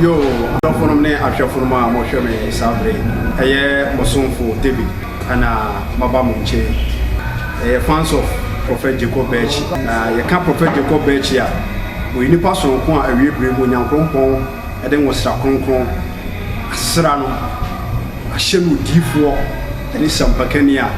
Yoo, dɔfonom ne ahwɛfonom a mohwɛ me saa bere yi, ɛyɛ mo somfo David na maba mo nkyɛn yi. Yɛyɛ fans of Prophet Jacob Birchi, na yɛka Prophet Jacob Birchi a, ɔyɛ nipa soronko a awiei bere mu Onyankronkron de nwosra kronkron asra no ahyɛ no odiyifoɔ ne sampakani a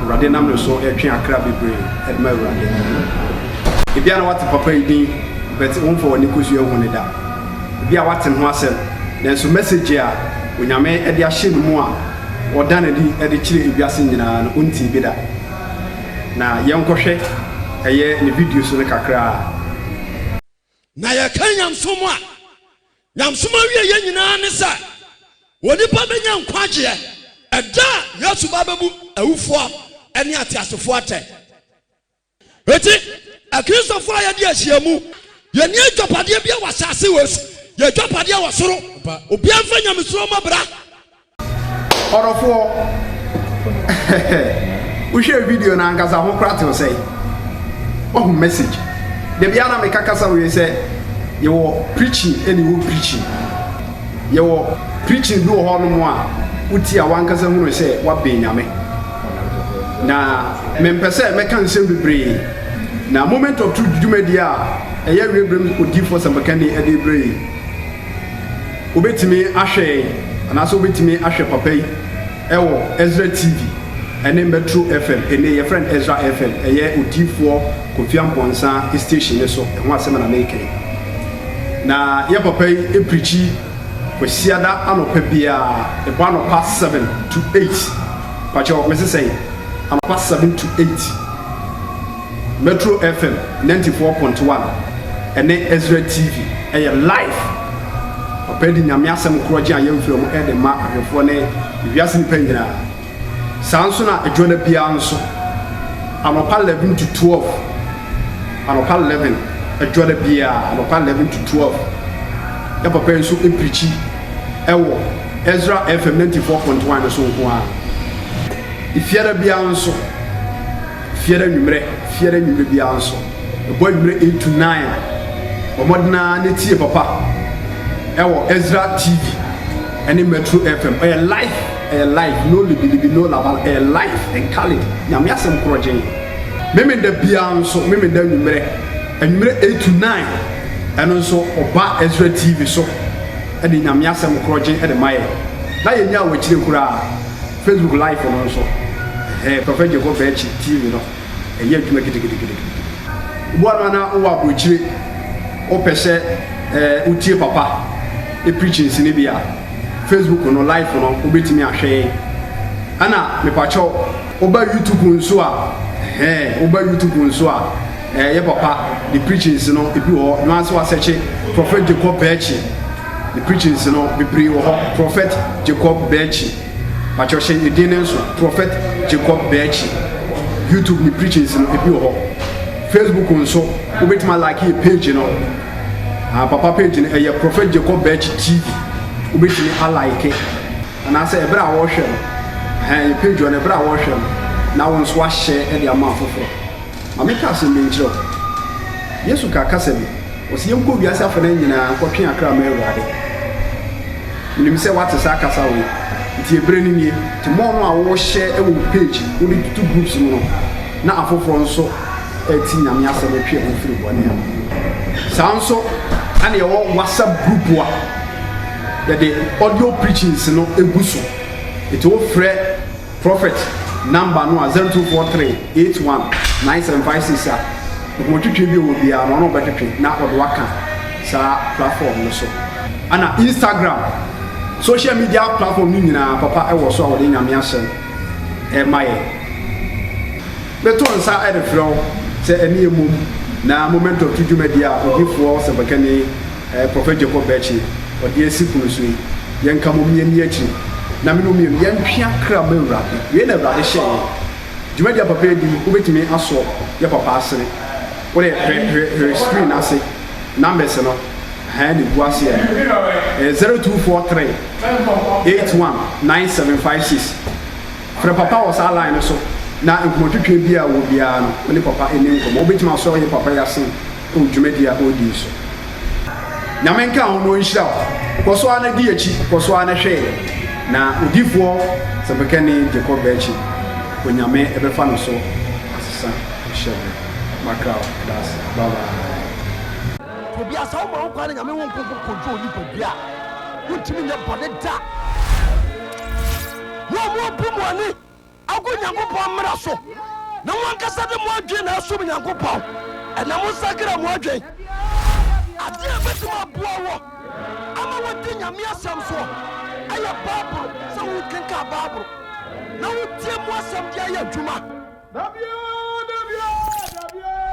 Awurade nam ne so retwe akra bebree de ma Awurade. Ebia na woate papa yi din, but womfa w'ani kosua nhu no da. Ebia woate ne ho asɛm, nanso message a Onyame de ahyɛ ne mu a ɔda no adi de kyerɛ ewiase nyinaa no, wontee bi da. Na yɛnkɔhwɛ ɛyɛ ne videos no kakraa. Na yɛka nyamesom a, nyamesom awieɛ nyinaa ne sɛ onipa bɛnya nkwagyeɛ ɛda a Yesu ba bɛbu awufoɔ ne ateasefoɔ atɛn. Enti, Akristofo a yɛadi ahyia mu, yenni agyapadeɛ biara wɔ asase wei so, yɛn agyapadeɛ wɔ soro. Obiara mfa nyamesuro mmɔ bra. Ɔdɔfoɔ, wohwɛɛ video no ankasa ho koraa tew sɛn? Wahu message? Da biara na meka kasa wei sɛ yɛwɔ preaching ɛne home preaching. Yɛwɔ preaching bi wɔ hɔnom a wotie a wankasa hunu sɛ woabɛn Nyame. Na mempɛ sɛ mɛka nsɛm bebree, na Moment of Truth dwumadi a ɛyɛ Awiei Bere mu Odiyifoɔ Asɛmpakani de rebrɛ yi, wobɛtumi ahwɛ yɛn anaasɛ wobɛtumi ahwɛ papa yi wɔ Ezra TV ne Metro FM, ɛnnɛ yɛfrɛ no Ezra FM, ɛyɛ Odiyifoɔ Kofi Amponsah station no so, ɛho asɛm na mereka yi. Na yɛ papa yi preachi. Kwasiada anɔpa biara, ɛbɔ anɔpa seven to eight, mpakyɛw mese sɛn? Anɔpa seven to eight, Metro FM ninety four point one ɛne Ezra TV ɛyɛ live. Papa yi de Nyame asɛm korɔgyen a yɛmfrɛ mu ɛde ma ahwɛfoɔ ne wiase nnipa nyinaa. Saa nso na adwa da biara nso, anɔpa 11 to 12, anɔpa 11, adwa da biara, anɔpa 11 to 12, na papa yi nso pirikyi wɔ Ezra FM 94.1 no so nko ara. Efiada biara nso, efiada nwummerɛ, efiada nwummerɛ biara nso, ɛbɔ anwummerɛ 8 to 9 a, bɔ mmɔden ara na tie papa wɔ Ezra TV ne Metro FM. Ɔyɛ live. Ɛyɛ live no libilibi no labala ɛyɛ live and Khalid nyame asɛm korɔgyee. Memenda biaa nso memenda anwummerɛ anwummerɛ eight to nine ɛno nso ɔba Ezra TV so ɛde nyame asɛm korɔgye ɛde ma yɛn na yɛn nyaa wakyire koraa Facebook live no nso ɛhɛɛ Prophet Jehovah akyi TV no ɛyɛ adwuma gidigidigidigidi. Woboa no anaa wowɔ abrokyire wopɛ sɛ wotie papa preachings no bi a. Facebook no live no wo bɛtumi ahwɛ yɛn ɛna mepakyɛw wo ba YouTube nso a ɛhɛn wo ba YouTube nso a ɛyɛ eh, papa the preachings no ebi wɔ hɔ na nso asɛkye Prophet Jacob Bɛɛkyi the preachings no bebree wɔ hɔ Prophet Jacob Bɛɛkyi pakyɛw hyɛ ne din ne nso Prophet Jacob Bɛɛkyi YouTube ne preachings no ebi wɔ hɔ Facebook nso wobɛtumi alake page no Ah papa page no ɛyɛ Prophet Jacob Birch TV. Wobɛtumi alike anaasɛ ɛberɛ a wɔrehwɛ no. Ɛhɛn yɛ page hɔ no ɛberɛ a wɔrehwɛ no na wo nso ahyɛ ɛde ama afoforɔ. Ma menka asɛm bi nkyerɛ wo. Yesu ka kasa bi. Ɔsi yɛn kɔ wiase afɛnɛ nyinaa nkɔ twe akra ma Awurade. Menim sɛ wate saa kasa wei. Nti ɛberɛ no nie. Te mɔɔ no a wɔhyɛ ɛwɔ page wode tutu groups mu no na afoforɔ nso ɛti Nyame asɛm ɛtwe yɛn ho firi bɔne ho. Saa nso ɛna yɛwɔ WhatsApp group a yɛde audio preachings no ɛgu so. Ɛti wo frɛ prophet number no a 0243819756 a nhomotwetwe bi wɔ biara no ɔno ɔbɛtwetwe na ɔde waka saa platform no so. Ɛna Instagram social media platform no nyinaa papa ɛwɔ so a wɔde Nyame asɛm ɛma yɛn. Mɛto nsa de frɛ wo sɛ ɛne yɛn mmom na Momentum to dwumadi a odiyifoɔ ɔsɛmpakani Prɔfɛt Jacob Bɛɛkye ɔde asi pono so yi. Yɛnka mmom yɛnni akyiri na me ne wo mmienu yɛntwea kra mma Awurade. Wei na Awurade hyɛɛ yɛn. Dwumadi a papa yi di, wobɛtumi asɔ yɛ papa asene. Wode hwɛ hwɛ hwɛ screen no ase, numbers no, ɛha na ɛgu aseɛ no. Ɛyɛ 0243 81 9756. Frɛ papa wɔ saa line no so na nkɔmmɔtwetwe bi a ɔwɔ biara no, wo ne papa nni nkɔmmɔ. Wobɛtumi asɔ wo yere papa yi ase wɔ dwumadi a ɔredi yi so. Nyame nka ho na ɔnhyira wo. Kɔ so ara na di akyi, kɔ so ara na hwɛ yɛn. Na odiyifoɔ sɛmpakani Jacob Bɛɛkye, Onyame bɛfa no so asesa wo hyɛbrɛ. Makra wo da ase. Bye bye. Ebia sɛ woma wo kwan na Nyame wo nkonko kodwo onipa bi a, wontumi nyɛ bɔne da. Mo a moabu mo ani agu Nyankopɔn mmara so, na mo ankasa de mo adwene na ɛsom Nyankopɔn, ɛnna monsakra mo adwene. Adeɛ a ɛbɛtumi aboa wo ama woadi Nyame asɛm soɔ ɛyɛ Bible, sɛ wokenkan Bible na wotie mu asɛm de ayɛ adwuma.